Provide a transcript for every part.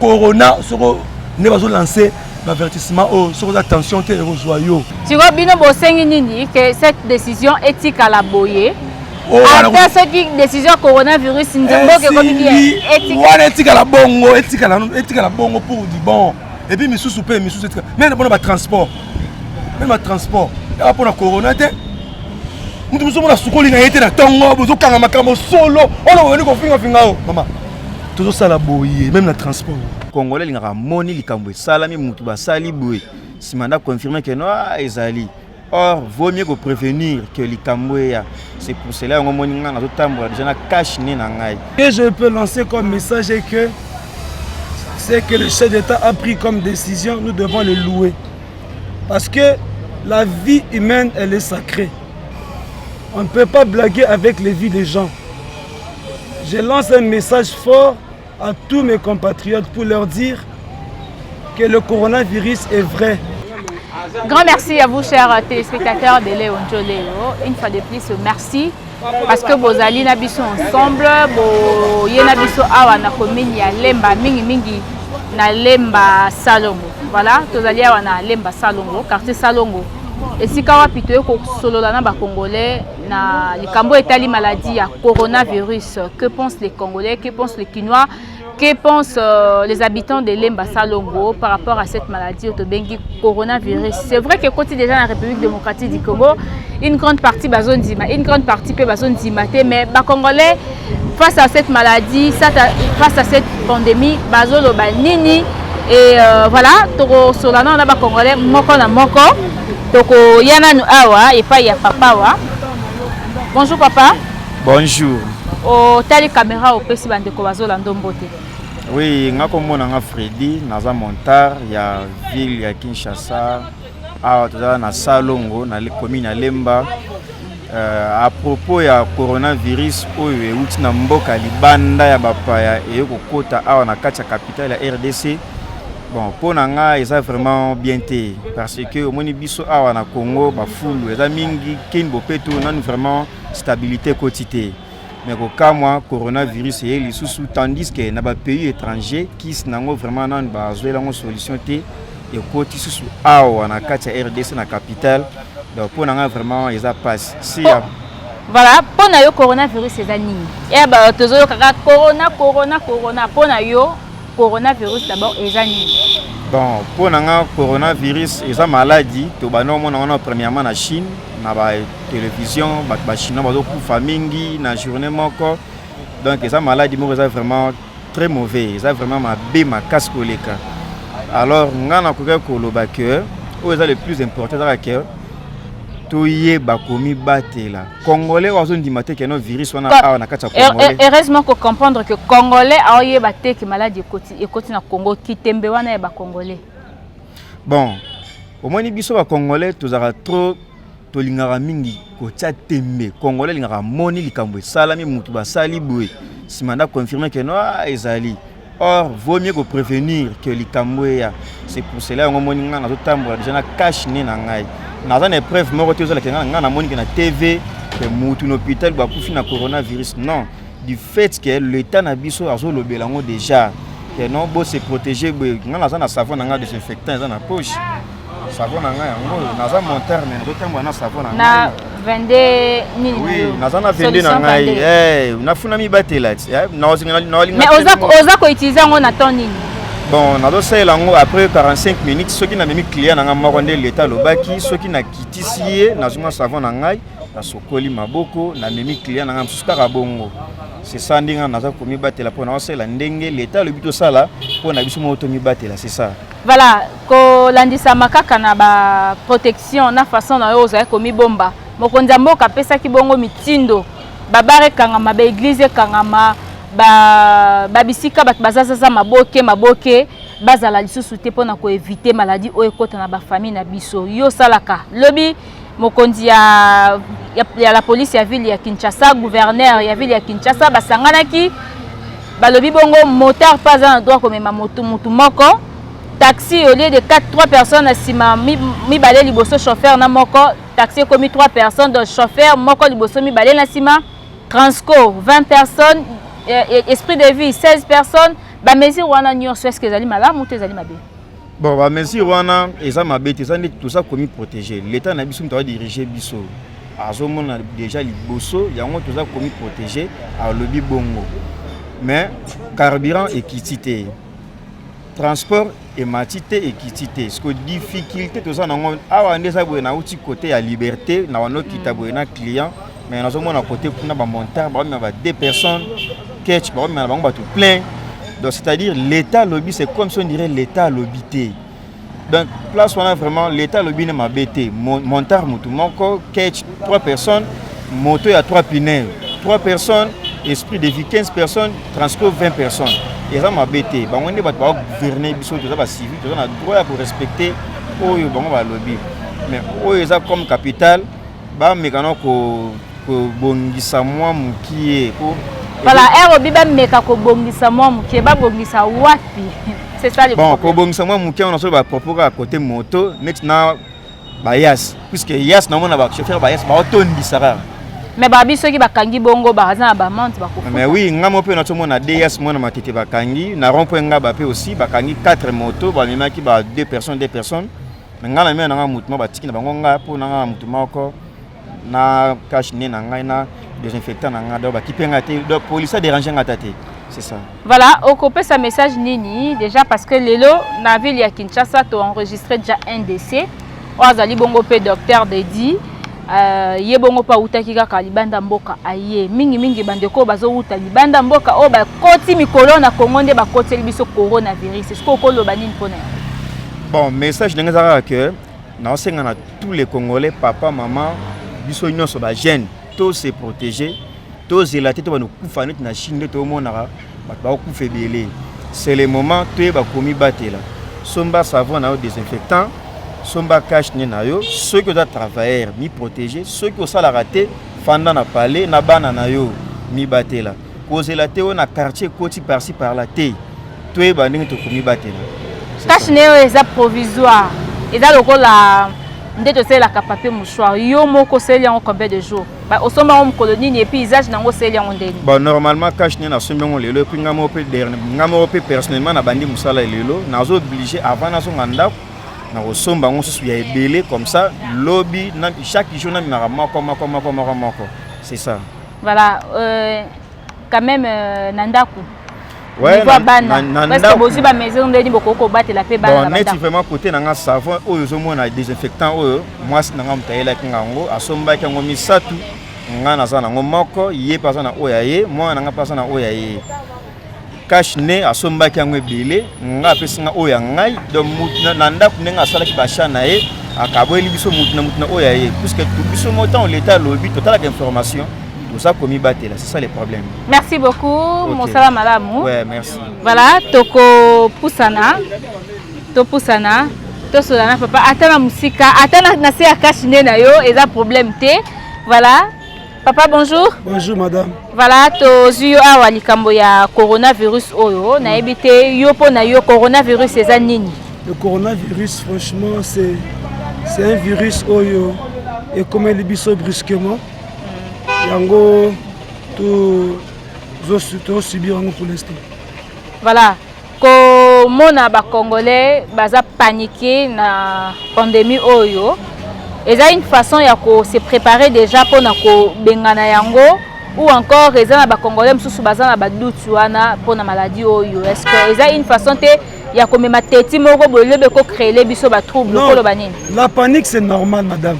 corona soko nde bazo lancer bavertissement oyo oh, soki oza tension te ekozwa yo sikoyo bino bosengi nini ke cette décision etikala boye oh, ata soki décision coronavirus nzemboka ekomi bien wana etikala bongo etikala bongo pour du bon epuis misusu mpe misusu etikala meme mpona batransport meme batransport yaka mpona corona te moto mosusu mona sukoli na ye te na ntongo bozokanga makambo solo oyo na bobandi kofingafinga yo mama tozosala boye meme na transport congolais alingaka amoni likambo esalami motu basali boye nsima nda confirme ke no ah, ezali or vaut mieux koprévenir que likambo eya c'est pour cela yango omoni ngai nazotambola deja na cache ne na ngai que je peux lancer comme message est que c'est que le chef d'état a pris comme décision nous devons le louer parce que la vie humaine elle est sacrée on ne peut pas blaguer avec les vies des gens Je lance un message fort à tous mes compatriotes pour leur dire que le coronavirus est vrai. Grand merci à vous, chers téléspectateurs de Léon Joleo. Une fois de plus, merci. Parce que vos alliés sont ensemble, vos alliés sont awa na commune ya Lemba, mingi mingi na Lemba Salongo. Voilà, tous alliés awa na Lemba Salongo, quartier Salongo. Et si kawa pito ko solo na ba congolais na likambo etali maladie ya coronavirus que pensent les congolais que pensent les kinois que pensent euh, les habitants de lemba salongo par rapport à cette maladie otobengi coronavirus c'est vrai que ekoti déjà na république démocratique du congo une grande partie bazondima une grande partie mpe bazondima te mais bacongolais face à cette maladie, face à cette pandémie, Bazolo Banini, et euh, voilà, Toko Solana, on a Congolais, Moko na Moko, Toko Yana Awa, et pas ya Papa Wa. Bonjour Papa. Bonjour. Au tali caméra au pesi bande ko bazola ndombote. Oui, nga komona nga Freddy, naza montar ya ville ya Kinshasa. awa tozala na salongo na commune ya lemba uh, à propos ya coronavirus oyo euti na mboka libanda ya bapaya eye kokota awa na kati ya capitale ya rdc bon mpo na nga eza vraiment bien te parce que omoni biso awa na congo bafulu eza mingi kini bopeto nanu vraiment stabilité ekoti te mais kokamwa coronavirus eye lisusu tandis que na bapays étranger kisi nango vraiment nanu bazwela yango solution te ekoti susu awa na kati ya rdc na capitale donc mpo na ngai vraiment eza mpasi si ya voilà mpo na yo coronavirus eza nini ya bato tozoyokaka corona corona corona mpo na yo coronavirus d'abord eza nini bon mpo na ngai coronavirus eza maladi tobandi omona wana premièrement na chine na ba television bato bachinois bazokufa mingi na journée moko donc eza maladi moko eza vraiment très mauvais eza vraiment mabe makasi koleka alors ngai nakokaki koloba que oyo eza le plus important ezaka ke toyeba komibatela congolais oyo azondima te keno virus wana awa na kati ya congolais heureusement kocomprendre que congolais aoyeba te ke maladi ekoti ekoti na congo kitembe wana ya bacongolais bon omoni biso bacongolais tozalaka trop tolingaka mingi kotia tembe congolais alingaka amoni likambo esalami motu basali boye nsima nda confirme ke no ah, ezali or vaut mieux koprévenir ke likambo eya c'est pour cela yango omoni ngai nazotambola deja na cache ne na ngai naza na épreuve moko te ozalaka ngai ngai namoni ke na tv ke motu na hôpital bakufi na coronavirus non du fait ke l'état na biso azolobela yango déjà ke non bo se protéger boye ngai naza na savon na ngai desinfectant eza na poche Savon na ngai yango oyo naza monteur mais nazo tambola na savon na ngai. 22 nini oui, naza na 22 na ngai eh, nafuna mibatela ti eh, mais oza koutilize yango na temps nini bon nazosalela yango après 45 minutes soki namemi client na ngai moko nde leta alobaki soki nakitisi ye nazwi mwa savon na ngai nasokoli maboko namemi client na ngai mosusu kaka bongo sesa ndenge naza komibatela mpo naosalela ndenge leta alobi tosala mpo na biso moko tomibatela sesa Voilà, kolandisama kaka na ba protection na façon na yo ozali komibomba. Mokonzi ya mboka apesaki bongo mitindo babare ekangama, ba eglise ekangama, ba, ba bisika bato bazazaza maboke maboke bazala lisusu te mpo na koevite maladi oyo ekota na bafamille na biso. Yo osalaka lobi mokonzi ya, ya, ya la police ya ville ya Kinshasa gouverneur ya ville ya Kinshasa basanganaki balobi bongo motard mpe aza na droit komema motu motu moko taxi au lieu de 4 3 personnes na nsima mibale liboso chauffeur na moko taxi ekomi 3 personnes donc chauffeur moko liboso mibale na nsima transco 20 personnes eh, eh, esprit de vie 16 personnes bamesure wana nyonso eske ezali malamu to ezali mabe Bon, ba mesure wana eza mabe te, eza nde toza komi protéger. L'État na biso moto adirige biso azomona deja liboso yango toza komi protéger, alobi bongo mais carburant ekiti te, transport emati te, ekiti te. Siko difficulté toza nango awa nde eza boye, nauti kote ya liberté na wanokita boye na client mais nazomona kote kuna bamontar baomema ba deux personnes ketch baomema na bango bato plein donc c'est à dire l'état alobi c'est comme si on dirait l'état alobi te donc place wana vraiment l'état alobi ne mabe te montar motu moko ketch trois personnes moto ya trois piner trois personnes esprit de vie 15 personnes transport 20 personnes eza mabe te bango nde bato bagouverne biso toza bacivil toza na droit ya korespecte oyo bango balobi mais oyo eza comme capitale bameka na kobongisa mwa mokie po voilà ero bi bameka kobongisa mwa mokie babongisa wapi c'est ça le bon kobongisa mwa mokie wana solo bapropos kaka kote moto neti na bayas puisque yas namona bachauffeur bayas baotondisa kaka mais babi soki bakangi bongo baza na bamante bakofuta mais oui nga mo mpe nazomona ds mwana matete bakangi na rond point ngaba mpe aussi bakangi 4 moto bamemaki ba 2 personnes 2 personnes me ngai na mia na ngai motu ma batiki na bango ngai mpo na ngai na motu moko na cache ne na ngai na désinfectant na ngai donc bakipe ngai te donc polise adérange ngai ata te c'est ça voilà okopesa message nini déjà parce que lelo na ville ya kinshasa toenregistre déjà un décès oyo azali bongo mpe docteur dedi Uh, ye bongo mpe awutaki kaka libanda mboka aye mingimingi bandeko oyo bazowuta libanda mboka oyo bakoti mikolo na kongo nde bakoteli biso coronavirus sikoyo okoloba nini mpo na yango bon message ndenge eza kaka ke naosenga na tous les congolais papa mama biso nyonso bagene to se protéger tozela te tobanda kokufa neti na chine nde tomonaka bato bakokufa ebele c'est le moment toyeba komibatela somba savon na yo désinfectant somba cache ne na yo soki oza travailleur mi protéger soki osalaka te fanda na palais na bana na yo mibatela kozela te oyo na quartier ekoti parci par la te toyeba ndenge tokomibatela tâche na yo eza provisoire eza lokola nde tosalelaka papier mouchoir yo moko osaleli yango combien de jour osomba yango mokolo nini epuis usage na yango osaleli yango ndeni bon normalement cash nde nasombi yango lelo epuis ngai moko mpe ngai moko mpe personnellement nabandi mosala lelo nazo oblige avant nazonga ndako nakosomba yango mosusu ya ebele comme ça lobi chaque jour namemaka moko moko moko moko moko c'est ça Voilà, euh, quand même euh, na ndako niveau ya bana parceke bozwi bamesure ndeni bokoki kobatela mpe bana neti vraiment kote na nga savon oyo ozomona désinfectant oyo mwasi na nga moto ayelaki nga yango asombaki yango misato nga naza nango moko ye mpe aza na oyo ya ye mwana na nga mpe aza na oyo ya ye cash ne asombaki yango ebele nga apesi nga oyo ya ngai donc na ndako ndenge asalaki basha na ye akaboyeli biso motu na motu na oyo ya ye puiske biso mo ntango leta alobi totalaka information toza komibatela c'est ça le problème merci beaucoup okay. mosala malamu ouais, merci voilà tokopusana topusana tosola na papa ata na mosika ata na se ya cash ne na yo eza problème te voilà Papa bonjour. Bonjour madame. Voilà tozwi yo awa likambo ya coronavirus oyo nayebi te yo mpo na yo coronavirus eza nini? Le coronavirus franchement c'est c'est un virus oyo ekomeli biso brusquement yango tozosubir yango pour l'instant. Voilà komona ba congolais baza panique na pandemie oyo eza une façon ya ko se préparer déjà pona kobengana yango ou encore eza na ba congolais mosusu baza na baduti wana pona maladie oyo est ce que eza une façon te ya komema teti moko boye lobi ekocrele biso batrouble okoloba nini la panique c'est normal madame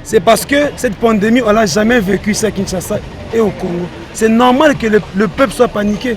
c'est parce que cette pandémie on l'a jamais vécu ici à kinshasa et au congo c'est normal que le, le peuple soit paniqué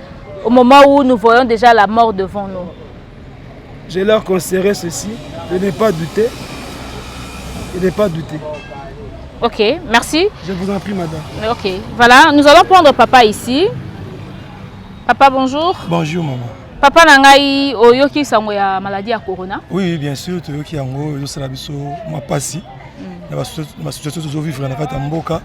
au moment où nous voyons déjà la mort devant nous je leur conseillerais ceci de ne pas douter de ne pas douter ok merci je vous en prie madame ok voilà nous allons prendre papa ici papa bonjour bonjour maman papa na ngai oyoki sango ya maladie ya corona oui bien sûr toyoki yango ezosala biso mwa mpasi mm. na basituation tozovivre na kati ya mboka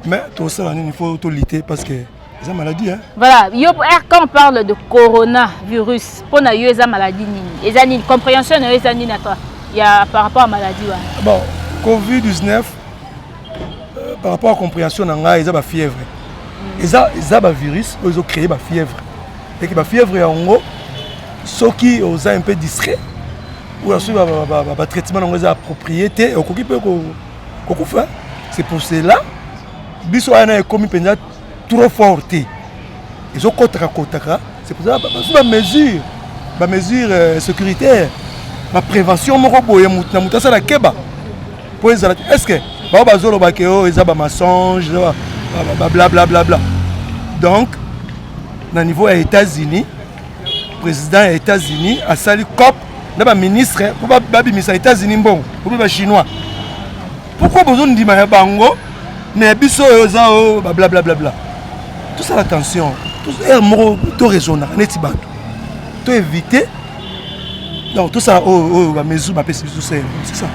mais tosala nini fo tolite parce que eza maladie hein? voilà yo eh, quand on parle de coronavirus mpo na yo eza maladie nini eza nini comprehension na yo eza nini ata ya par rapport à maladie wana bon covid 19 euh, par rapport à comprehension na ngai eza bafièvre mm. eza, eza bavirus oyo ezocreye bafièvre eke bafièvre yango soki oza un peu distrait oyo soki batraitement na yango eza approprié te okoki mpe kokufa c'est pour cela biso wana ekomi mpenza trop fort te ezokotaka kotaka c'est pour ça bazwi bamesure bamesure euh, sécuritaire baprévention moko boye na moto asala keba mpo ezala est ce que bao bazoloba ke oyo eza bamensonge bablablabla donc na niveau ya états-unis président ya états-unis asali cop na baministre mpo babimisa états-unis mbongo obi bachinois Pourquoi bozo ndima ya bango mais ya biso oyo eza o ba blablabla. Tosala attention. Heure moko to raisonnaka neti bato. To éviter donc tosala oyo oh, oyo oh, bamesure bapesi biso sele c'est ça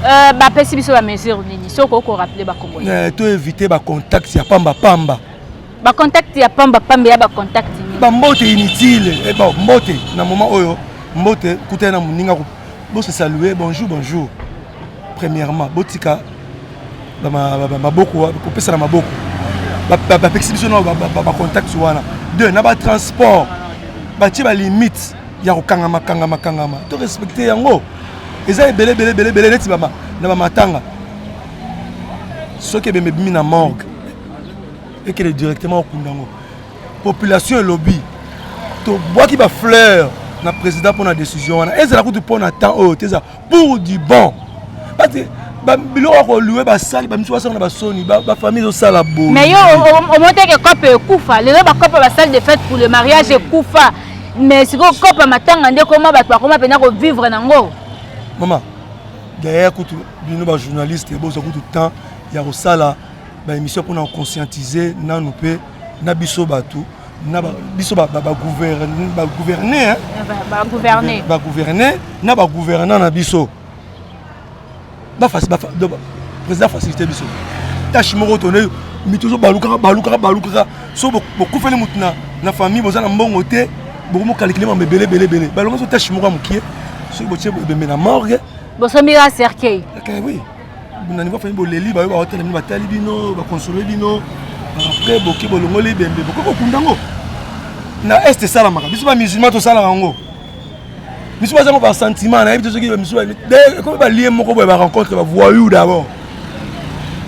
euh, bapesi biso bamesure nini soki okorappele bakongolais euh, to éviter bacontact ya pamba pamba Ba contact ya pamba pamba ya ba contact. Ba mbote inutile. Eh bon, mbote na moment oyo mbote kuta na muninga ko bo se saluer bonjour bonjour. Premièrement, botika ba maboko ko pesa na maboko. Ba ba pekisi biso na ba ba contact wana. Deux, na ba transport. Ba tie ba limite ya kokangama kangama kangama. To respecter yango. Eza ebele ebele ebele ebele neti ba na ba matanga. Soki ebembe bimi na morgue. ekende directement okunda yango population elobi tobwaki bafleur na président mpo na décision wana ezala kutu mpo na temps oyo te eza pour du bon pate biloko ya kolue basali bamisu basala na basoni bafamille ezosala boye mais yo omoteke cope ekufa lelo bacope basali de fête pour le mariage ekufa mais sikoyo cope matanga nde koma bato bakoma mpenza kovivre nango mama derrière kutu bino bajournaliste boza kutu temps ya kosala ba émission pona ko conscientiser nanu pe na biso batu na biso ba ba gouverner ba gouverner ba gouverner ba gouverner na ba gouvernants na biso ba facile ba président facilité biso tâche moko tonne mi toujours balukaka balukaka balukaka so bokufeli mutu na na famille boza na mbongo te bokomi kokalikile mambo ebele ebele ebele balongo so tâche moko ya mokie soki botie ebembe na morgue bosombi ya cercueil oui na niveau fani boleli bayo baotela bino batali bino bakonsole bino après boke bolongoli ebembe bokoki kokunda yango na est esalamaka biso bamusulman tosalaka yango biso baza ngo basentiment nayebi te soki bamisu ekomi balie moko boye barencontre bavoyou d'abord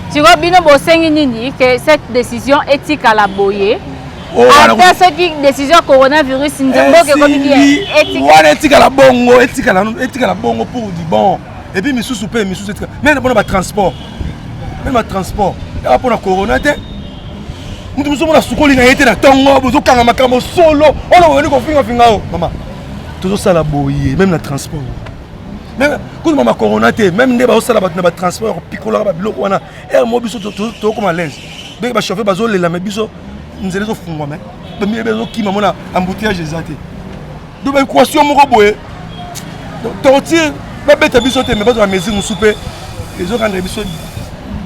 sikoyo bino bosengi nini ke cette décision etikala boye oh, ata soki décision ya coronavirus nzemboke ekomi bien wana etikala bongo etikala bongo pour du bon et puis misusu pe misusu etika mais na pona ba transport même ba transport ya pona corona te mutu mosusu mona sukoli na ye te na tongo bozokanga makambo solo oyo boyoni kofinga finga o mama tozosala boye meme na transport kutu mama corona te meme nde bazosala bato na batransport ya kopikolaka babiloko wana ere mo biso tokoma lese ndenge bachauffeur bazolela me biso nzela ezofungwa me bamiyebe ezokima mona embouteillage eza te do ba equation moko boye torture babeta biso te me bazwa mesure mosusu mpe ezokanda biso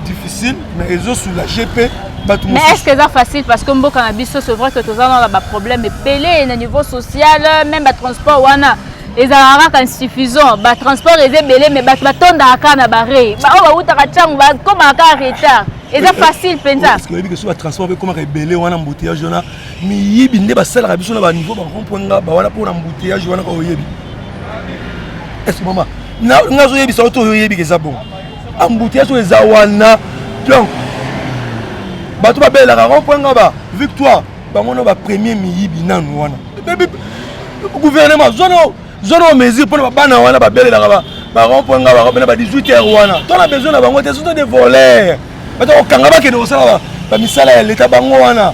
difficile mais ezosoulage mpe bato mais est ce que eza facile parce que mboka na biso c'est vrai que toza nana baproblème ebele na niveau social même batransport wana ezalaka kaka insuffisant batransport eza ebele mais bato batondaka kaka na barei baoyo bautaka ntango bakomaka kaka retard eza facile mpenza oyebi ke so batransport mpe ekomaka ebele wana mboteyage wana miyibi nde basalaka biso na baniveau bakompo nga bawana mpo na mbuteyage wana kaka oyebi ese mama nga azoyebisa yo to oyo oyebika eza bongo ambuteyage oyo eza wana donc bato babelelaka kompo nga ba victoire bango no bapremier miyibi nanu wana gouvernement zono zono mesure mpo na babana wana babelelaka bakompo nga bakopena ba 18 heure wana to na besoin na bango te soto de voler bato kokanga bakende kosala bamisala ya leta bango wana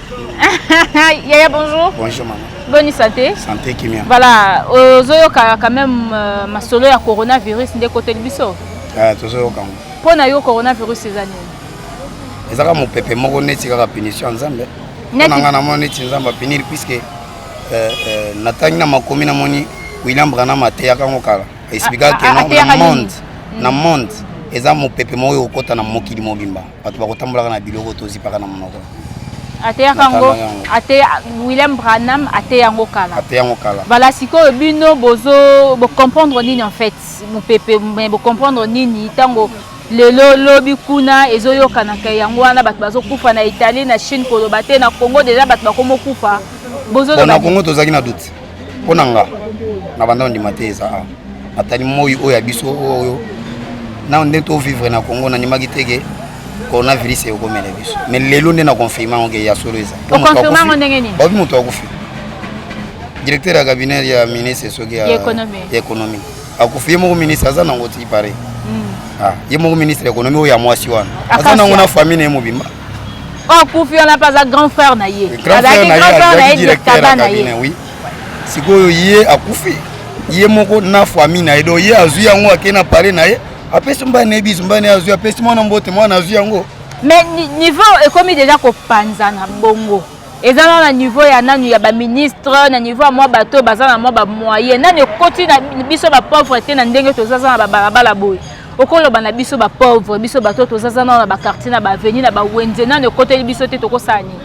Yaya, bonjour. Bonjour, maman. Bonne santé. Santé, Kimia. Voilà, ozoyoka quand même euh, masolo ya coronavirus nde koteli biso. Ah, tozoyoka ngo. Mpo na yo coronavirus eza nini? Eza kaka mopepe moko neti kaka punition ya Nzambe. Mpo na ngai namoni neti Nzambe apiniri puisque euh, euh, natangi na makomi namoni William Branham ateyaka ngo kala. Expliquaka que non, na monde, na monde eza mopepe moko ekokota na mokili mobimba. bato bakotambolaka na biloko tozipaka na monoko ateyaka yango ateya william branham ateya yango kala ateya yango kala bala sikoyo bino bozo bocomprendre nini en fait mopepe me bocomprendre nini ntango lelo lobi kuna ezoyokanaka yango wana bato bazokufa na italie na chine koloba te na congo deja bato bakomokufa bozolona congo tozalaki na doute mpo na nga na banda ondima te eza awa natali moi oyo ya biso oyo nao nde tovivre na congo nandimaki teke coronavirus ekomela biso me lelo nde na confirme yango ke ya solo eza babi moto akufi directeur ya cabinet ya ministre soki ya économie akufi ye moko ministre aza nango ti pare hmm. ah, ye moko ministre ya économie oyo ya mwasi wana aza nango na famille na ye mobimba oh kufi wana mpe aza grand frère na ye azalaki grand frère na ye directaba na ye sikoyo ye akufi ye moko na famille na ye donc ye azwi yango akei na pale na ye apesi mbai na ye biso mbai na ye azwi apesi mwana mbote mwana azwi yango mais niveau ekomi deja kopanzana bongo eza na na niveau ya nanu ya ba ministre na niveau ya mwa bato oyo baza na mwa ba moyen nanu ekoti na biso ba pauvre te na ndenge tozaza na babalabala boye okoloba na biso ba pauvre biso bato oyo tozaza nano na baquartier na baaveni na bawenze nanu ekoteli biso te tokosala nini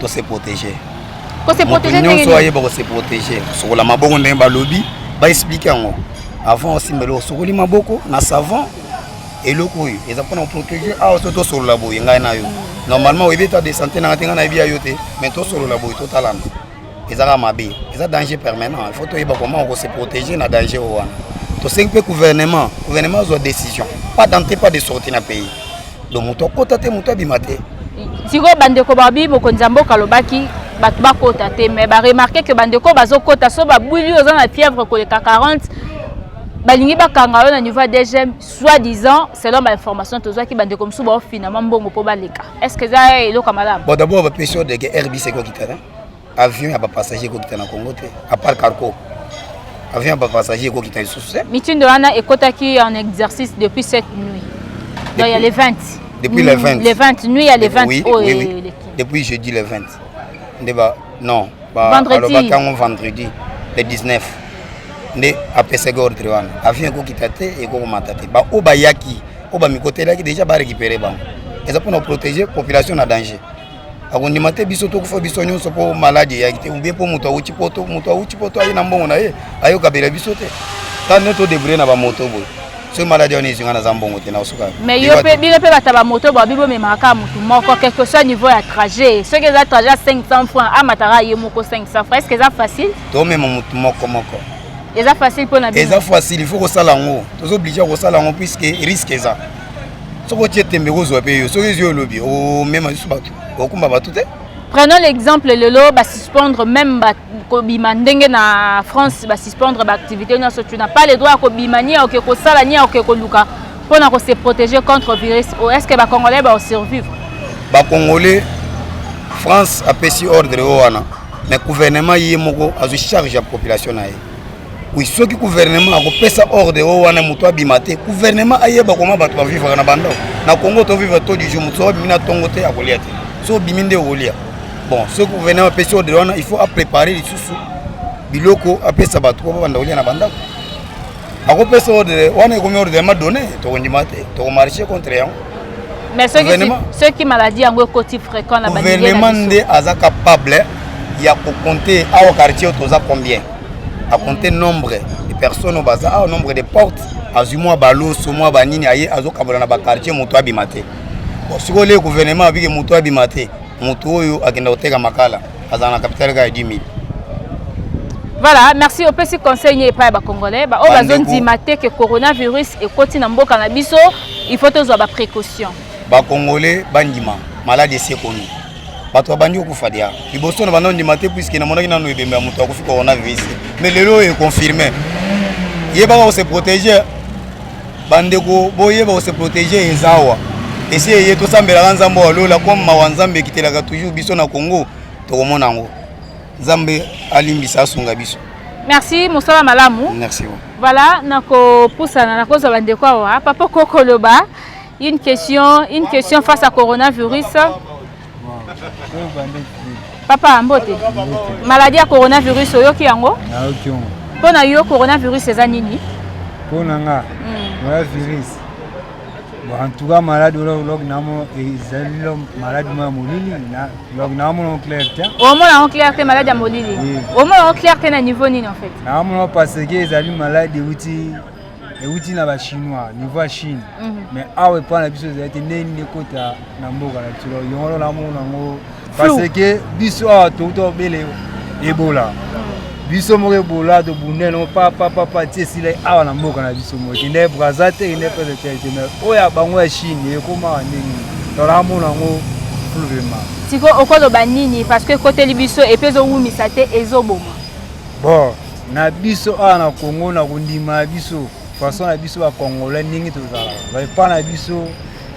tose protege nyonso ayeba kose protege sokola mabongo ndenge balobi baexplike yango avant osimba eloko sokoli maboko na savon eloko oyo eza mpona koprotege awa so tosolola boye ngai na yo normalement oyebi eta de santé nanga te ngai nayebi ya yo te mais tosolola boye totalana ezaka mabe eza danger permanent il faut toyeba comment okose protege na danger oyo wana tosengi mpe gouvernement gouvernement azwa décision pas d'entrée pas de sortie na pays donc moto akota te moto abima te sikoyo bandeko babi mokonzi ya mboka alobaki bato bakota te mais baremarke ke bandeko bazokota so babwili oza na fièvre koleka 40 balingi bakanga yo na niveau ya dgm soit disant selon bainformation tozwaki bandeko mosusu baofinama mbongo mpo baleka est ce que eza eloko ya malamu bon d'abord bapesi yo deke rbc ekokitana avion ya bapassager ekokita na congo te apart carco avion ya bapassager ekokita lisusu te mitindo wana ekotaki en exercice depuis cette nuit donc ya le 20 depuis le 20 le 20 nuit ya le 20 oyo eleki depuis jeudi le 20 nde ba non alobaki yango vendredi le 19 nde apesaki ordre wana avion ekokita te ekokomata te baoyo bayaki oyo bamikotelaki deja barécupere bango eza mpona koprotege population na danger akondima te biso tokufa biso nyonso mpo maladi eyaki te ubie mpo moto awuti poto moto awuti poto aye na mbongo na ye ayokabela biso te tane todebrouye na bamoto boye soki maladi wana ezwi nga naza mbongo te nakosuka mais yo mpe bino mpe bato ya bamoto bwa bibo memaka kaka motu moko quelque soit niveau ya trajet soki eza trajet ya 500 franc amataka ye moko 500 franc estce eza facile tomema motu moko moko eza facile mpo na bino eza facile il faut kosala yango toza oblige ya kosala yango puiske risque eza soki otie tembe kozwa mpe yo soki ezwi olobi omema lisusu bato okumba bato te prenons l'exemple lelo basuspendre même bato kobima ndenge na France ba suspendre ba activité nyonso tu n'as pas le droit ya kobima ni ya oke kosala ni ya oke koluka mpo na ko se protéger contre virus oyo est ce que ba congolais ba survivre ba congolais France apesi ordre oyo wana mais gouvernement ye moko azwi charge ya population na ye Oui, soki gouvernement akopesa ordre oyo wana moto abima te gouvernement ayeba koma bato bavivaka na bandako na congo tovivre to du jour moto soki abimi na ntongo te akolia te so obimi nde okolia bon soki gouvernement apesi ordre wana il faut aprépare lisusu biloko apesa bato po babanda kolia na bandako akopesa ordre wana ekomi ordre ya madone tokondima te tokomarche contre yango mais soki maladie yango ekoti fréquent na gouvernement nde aza capable ya kokonte awa quartier oyo toza combien a compter nombre de personnes au bazar, ah, nombre de portes, azwi mwa baloso mwa banini aye azokabola na bakartier moto abima te sikoyo le gouvernement abiki moto abima te moto oyo akenda koteka makala azala na kapitale kaka ya 10 000 voilà merci opesi conseil nie epai ya bacongolais baoyo bazondima te ke coronavirus ekoti na mboka na biso il faut tozwa baprécaution bacongolais bandima maladi esekoni bato babandi kokufa dia liboso na banda ondima te puiske namonaki nano ebembe ya moto akofi coronavirus mais lelo oyo econfirme yebaka kose protege bandeko boyeba kose protege eza awa esi eye tosambelaka nzambe wa lola comme mawa nzambe ekitelaka toujours biso na congo tokomona yango nzambe alimbisa asunga biso merci mosala malamu merci voilà nakopusana nakozwa bandeko awa papa kokoloba Une question, une question face à coronavirus. Papa Mbote, maladie ya coronavirus oyoki yango? Nayoki yango. Mpo na yo coronavirus eza nini? Mpo na nga hmm. coronavirus en tout cas malade log namo ezali lo malade mo ya molili log namo no clair te omona yango clair te malade ya molili omona yango clair te na niveau nini en fait naamona parce que ezali malade euti euti na ba chinois niveau ya chine mhm. mais awa epai na biso ezali te ndenge nini ekota na mboka na biso yango ndo namona yango parce que biso awa touta obele ebola mhm. biso moko ebola tobunda yango papapapa ti esila awa na mboka na biso moko kende braza te kende pese te te mais oyo ya bango ya chine ekomaka ndenge nini tolaka mona yango fluvema sikoyo okoloba nini parce que ekoteli biso epe ezowumisa te ezoboma bon na biso awa na Congo na kondima na biso façon na biso ba Congolais ndenge tozalaka ba epa na biso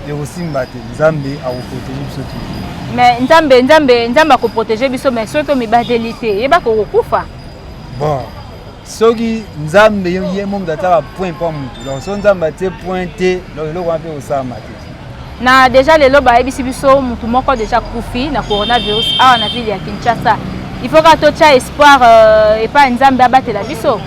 ekosimba te nzambe akoprotege biso te mais nzambe nzambe nzambe akoprotege biso mais soki omibateli te yeba kokokufa bon soki nzambe ye moto ataka point mpo motu donc soki nzambe atie point te donc eloko wana mpe kosalama te Na deja lelo bayebisi biso mutu moko deja kufi na coronavirus awa na ville ya Kinshasa. Il faut ka totia espoir euh, epa Nzambe abatela biso.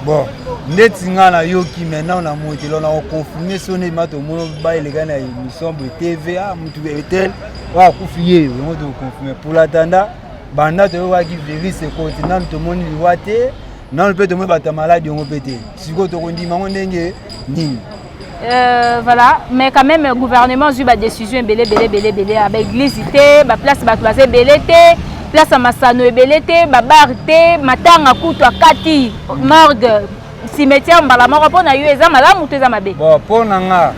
Bon, ndeti nga na yoki maintenant na motelo na confirmer sone ma to mono ba eleka na émission de TV ah mutu etel wa kufi ye yango to confirmer pour l'attendant banda toyokaki virus ekoti nanu tomoni liwa te nanu mpe tomoni bato ya maladi yango mpe te sikoyo tokondima yango ndenge nini Euh, voilà mais quand même gouvernement azwi badécision ebele ebele ebele ebele ya baeglise te baplace bato baza ebele te place ya masano ebele te babar te matanga kutu akati morgue cimetière mbala moko mpo na yo eza malamu to eza mabe bon mpo na nga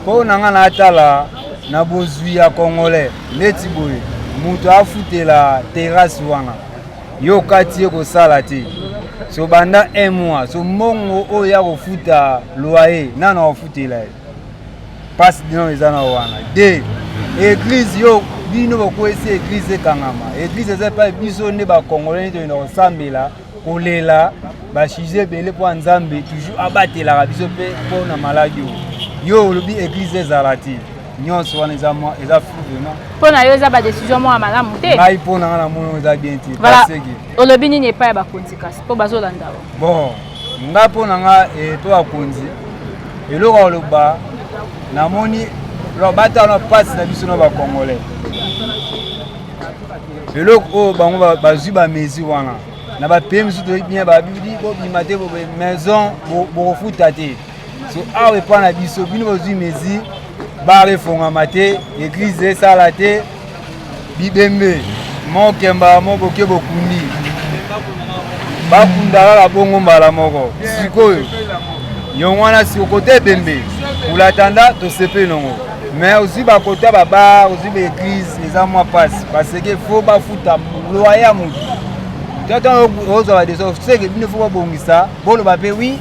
mpo na nga natala na bozwi ya congolais neti boye moto afutela terrasse wana yo okati ye kosala te so banda un mois so mbongo oyo ya kofuta loyer nano akofutela ye mpasi dino eza na wana de eglize yo bino bokwesi eglize ekangama eglize eza epai biso nde bakongole nde toyenda kosambela kolela basujet ebele mpo ya nzambe toujours abatelaka biso mpe mpo na maladi oyo yo olobi eglize ezala te nyonso wana eza mwa eza flou vraiment mpo na yo eza badecision moko ya malamu te ngai mpo na nga na mono eza bien te paseke olobi nini epai ya bakonzi kasi mpo bazolanda yo bon ngai mpo na nga eto eh, bakonzi eloko ya koloba namoni bata wana mpasi na biso na bacongolais eloko oyo bango bazwi bamesure wana na bapeye mosusu toyebi bien babidi bobima te maison bokofuta te so awa epai na biso bino bozwi mesure bare efongama te eglize esala te bibembe mokemba moboke bokundi bakunda kaka bongo mbala moko sikoyo yongo wana sikokota ebembe kulatanda tosepeli nongo me ozwi bakota babar ozwi baeglize eza mwa mpasi paseke fo bafuta loye ya motu tata ozwa badeso seke bino fo babongisa boloba mpe wi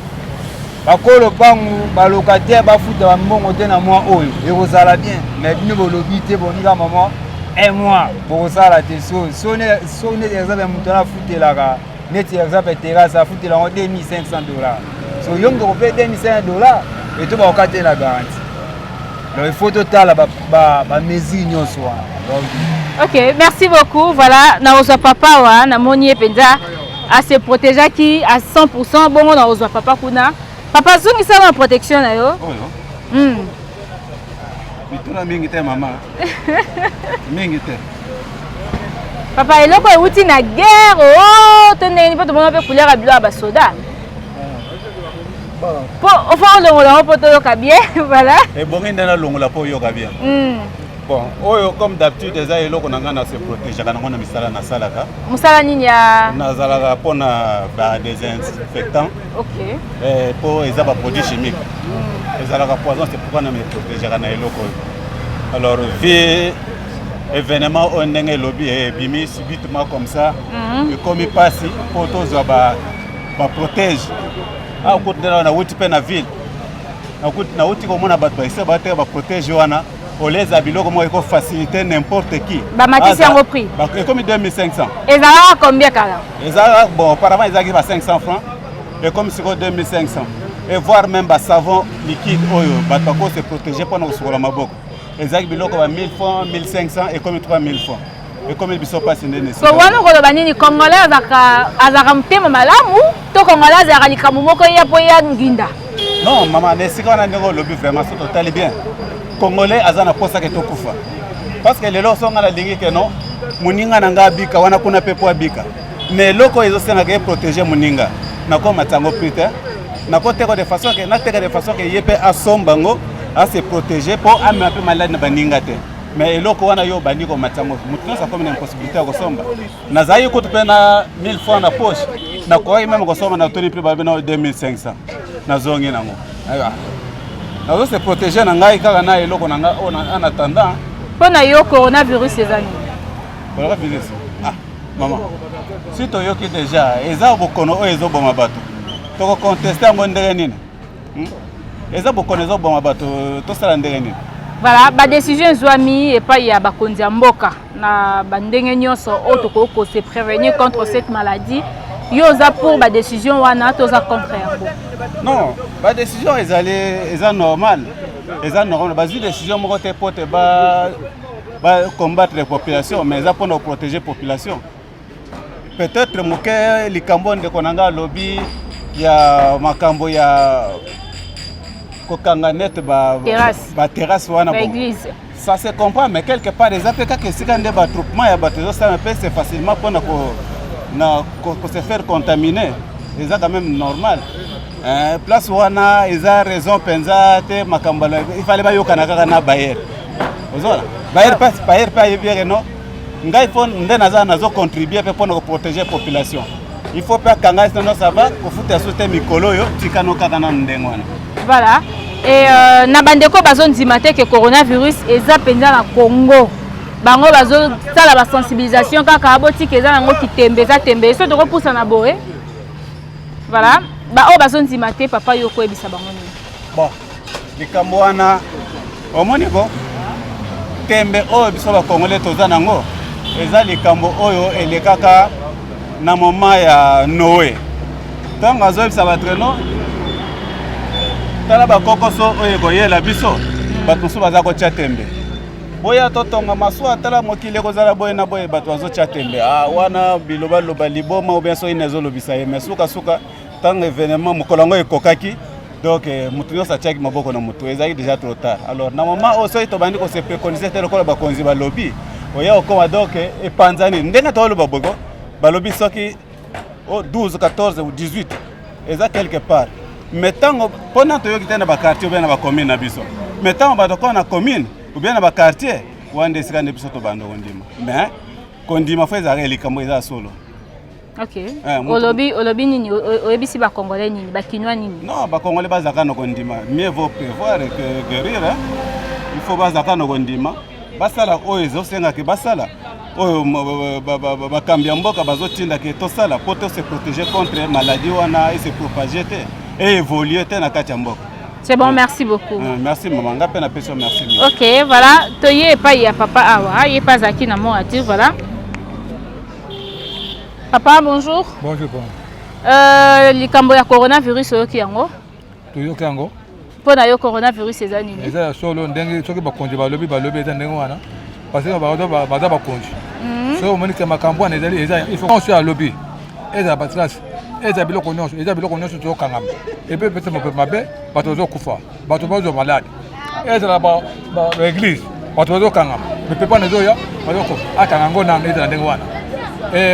bakolo mpangu balocataire bafuta bambongo te na mwa oyo ekozala bien mais bino bolobi te bonika mama un mois bokosala te so so neti exemple moto ana afutelaka neti exemple terrasse afutela yango 2500 dollar so yo moto okope 2500 dollar eto bakoka te na garanti donc il faut totala bamesure nyonso wana ok merci beaucoup voilà nakozwa papa wa namoni ye mpenza a se protegeaki à 100% bongo na ozwa papa kuna papa zongisa na protection na yo oyo mm. mituna mingi te mama mingi te papa eloko euti na guerre o oh, to ndenge nini mpo tomona mpe couleur ya bilo ya basoda mpo ofa olongola yango mpo toyoka bien voilà ebongi nde nalongola mpo oyoka bien mm. Bon, oyo comme d'habitude eza eloko na ngai na se protegeaka nango na misala nasalaka. Mosala nini ya? Nazalaka mpo na ba désinfectant. Okay. Eh, mpo eza ba produits chimiques. Mm. Ezalaka poison, c'est pourquoi na me protegeaka na eloko oyo. Alors vie événement oyo ndenge elobi eh, ebimi subitement comme ça mm-hmm. ekomi mpasi mpo tozwa ba ba protège. Akuti ah, na wuti mpe na ville. Nakuti nauti komona bato baisa bateka ba protège wana koleza biloko moko eko facilite n'importe qui bamatisi yango prix ekomi 2500 ezalaka combien kala ezalaka bon auparavant ezalaki ba 500 francs ekomi sikoyo 2500 et voir même basavon liquide oyo bato bako se protéger mpo na kosukola maboko ezalaki biloko ba 1000 francs 1500 ekomi 3000 francs ekomeli biso mpasi nde na esika wana koloba nini congolais azalaka azalaka motema malamu to congolais azalaka likambo moko ya mpo ya nginda non mama na esika wana ndenge olobi vraiment so totali bien congolais aza na mposa ke tokufa parce que lelo so ngai nalingi ke non moninga na ngai abika wana kuna mpe mpo abika mais eloko oyo ezosengaka ye protege moninga nakomata yango plus te nakoteka de façon ke nateka de façon ke ye mpe asomba yango ase protege mpo amema mpe maladi na baninga te me eloko wana yo obandi komatisa ngo moto nyonso akomi na impossibilité ya kosomba nazalaki kutu mpe na 1000 franc na poche nakokaki meme kosomba na toni mpe babe na 2500 nazongi nango nazo se protege na ngai kaka na eloko na ngai oyo en attendant mpo na yo coronavirus eza nini coronavirus ah mama si toyoki déjà eza bokono oyo ezoboma bato tokokonteste yango ndenge nini Hmm? eza bokono ezoboma bato tosala ndenge nini voilà badécision ezwami epai ya bakonzi ya mboka na bandenge nyonso oyo tokoki kose prévenir contre cette maladie yo oza pour badécision wana to oza contre yango non badécision ezali eza normal eza normal bazwi décision moko te mpo te ba combattre population mais eza mpona koprotéger population peut-être moke likambo ndeko na ngai alobi ya makambo ya kokanga nete baterrasse ba wana ça se comprend mais quelque part eza mpe kaka esika nde batroupement ya bato ezosala mpe c'est facilement mpo na ko se faire contaminer eza quand même normal eh, place wana eza raison mpenza te makambo ifale bayokana kaka na bayer ozola bayer mpe ayebi yeke non ngai mpo nde naza nazo contribue mpe mpo na koprotege population il faut mpe akanga ye sinono ça va kofuta ya sote mikolo oyo tikano kaka nanu ndenge wana voilà e uh, na bandeko bazondima te ke coronavirus eza mpenza na congo bango bazosala basensibilisation kaka botika eza nango kitembe eza tembe so tokopusa na boye voilà baoyo bazondima te papa yo okoyebisa bango nini bon likambo wana omoni ko tembe oyo biso bakongole toza nango eza likambo oyo elekaka na moma ya noe ntango azoyebisa bato reno tala bakokoso oyo ekoyela biso bato mosusu baza kotya tembe boya totonga masuwa tala mokili ekozala boye na boye bato bazotya tembe ah, wana bilobaloba liboma obia soki na ezolobisa ye me sukasuka ntango evenement mokolo yango ekokaki donc eh, moto nyonso atiaki maboko na motu ezalaki déjà trop tard alors na moment oyo soki tobandi kosepekonise te lokola bakonzi balobi oya okoma donc eh, epanzani ndenge toloba bogo balobi soki 12 14 ou 18 eza quelque part mais ntango mpo na toyoki te na bakartier obia na bacommune na biso mais ntango bato koo na commune obia na bakartier wana nde esika nde biso tobanda kondima mais kondima fo ezalaka likambo eza solo Okay. Eh, mutu... olobi olobi nini oyebisi ba congolais nini ba kinois nini non ba congolais baza kano kondima mieux vaut prévoir que guérir hein? il faut baza kano kondima basala oyo ezosenga ke basala oyo bakambi ya mboka bazotinda ke tosala mpo to se protéger contre maladie wana ese propage te e évolue te na kati ya mboka C'est bon, merci beaucoup. Euh, merci maman, nga pe na peso merci. OK, voilà, toye epai ya papa awa, ye pas aki na mo ati, voilà. Papa, bonjour. Bonjour, papa. Euh, likambo ya coronavirus oyoki yango? Toyoki yango. Mpo na yo coronavirus eza nini? Eza ya solo ndenge soki bakonzi balobi balobi eza ndenge wana. Parce que baza bakonzi. Mhm. Soki omoni ke makambo wana ezali eza il faut nyonso alobi ezala batrace ezala biloko nyonso eza biloko nyonso tozokangama epe epesa mabe bato bazokufa bato bazwa malade ezala baeglise bato bazokangama mipepana ezoya bazoko akanga yango nano ezala ndenge wana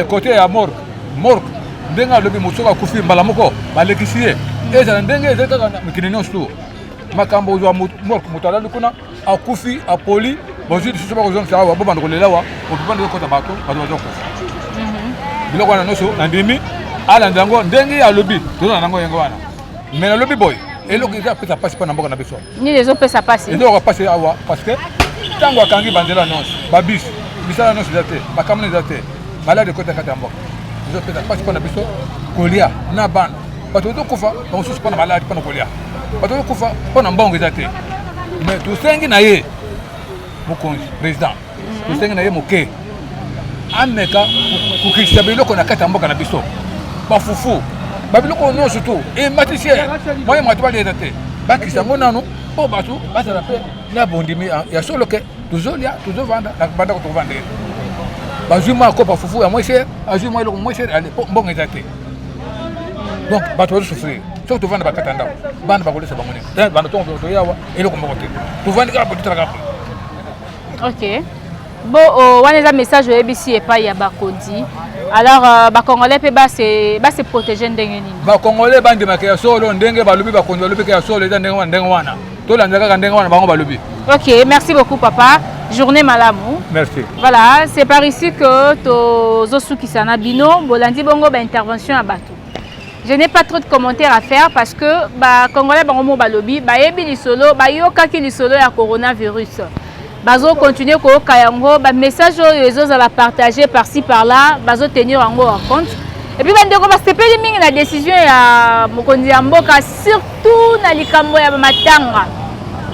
kote eh, ya morgue morgue ndenge alobi mosuku akufi mbala moko balekisi ye ezala ndenge ezali kaka na mikili nyonso tu makambo ozwa morgue moto alali kuna akufi apoli bozwi lisusu bakozongisa awa bobanda kolela awa mopepana ekota bato bato bazokufa mhm. biloko wana nyonso nandimi alanda yango ndenge alobi tozala nango yango wana me nalobi boye eloko eza apesa mpasi mpo na mboka na biso nini ezopesa mpasi ezoyoka mpasi awa parce que ntango akangi banzela nyonso babus misala nyonso eza te bakamona eza te malade ekota kati ya mboka ezopesa mpasi mpo na biso kolia na bana bato bazokufa bamosusu mpo na maladi mpo na kolia bato bazokufa mpo na mbongo eza te mais tosengi na ye mokonzi président tosengi na ye moke ameka kokitisa biloko na kati ya mboka na biso bafufu babiloko oyo nyonso tu ematisi ye moye moto baleta te bakisa yango nanu mpo bato bazala mpe na bondimi ya solo ke tozolya tozovanda na banda ko tokovanda ye bazwi mwa akopa fufu ya mwese azwi mwa eloko mwese ale mpo mbongo eza te donc bato bazosufrire soki tovanda bakata ndako bana bakolesa bango nini banda tongo toyawa eloko moko te tovandi kaka bototalaka ok bo oh, wana eza message oyebisi epai ya bakodi alors euh, bacongolais mpe base protege ndenge nini bacongolais bandimaka ya solo ndenge balobi bakonzi balobika ya solo eza ndenge ndenge wana tolanda kaka ndenge wana bango balobi ok merci beaucoup papa journée malamu merci voilà c'est par ici que tozosukisa na bino bolandi bongo baintervention ya bato Je n'ai pas trop de commentaires à faire parce que ba Congolais bango mo balobi bayebi lisolo bayokaki lisolo ya coronavirus bazo continuer koyoka yango ba message oyo ezozala partage par ci par là bazo tenir yango en compte epuis bandeko basepeli mingi na décision ya mokonzi ya mboka surtout tout na likambo ya matanga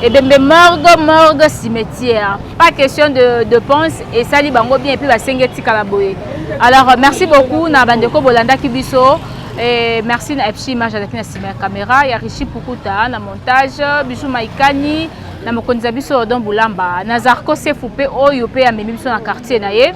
ebembe morgue morgue cimetière pas question de dépense esali bango bien epuis basengi etikala boye alors merci beaucoup na bandeko bolandaki biso Et merci na fc image azalaki na nsima ya kamera ya richi pukuta na montage bisu maikani na mokonzi ya biso odon bulamba na zarco sefu mpe oyo mpe amemi biso na quartier na ye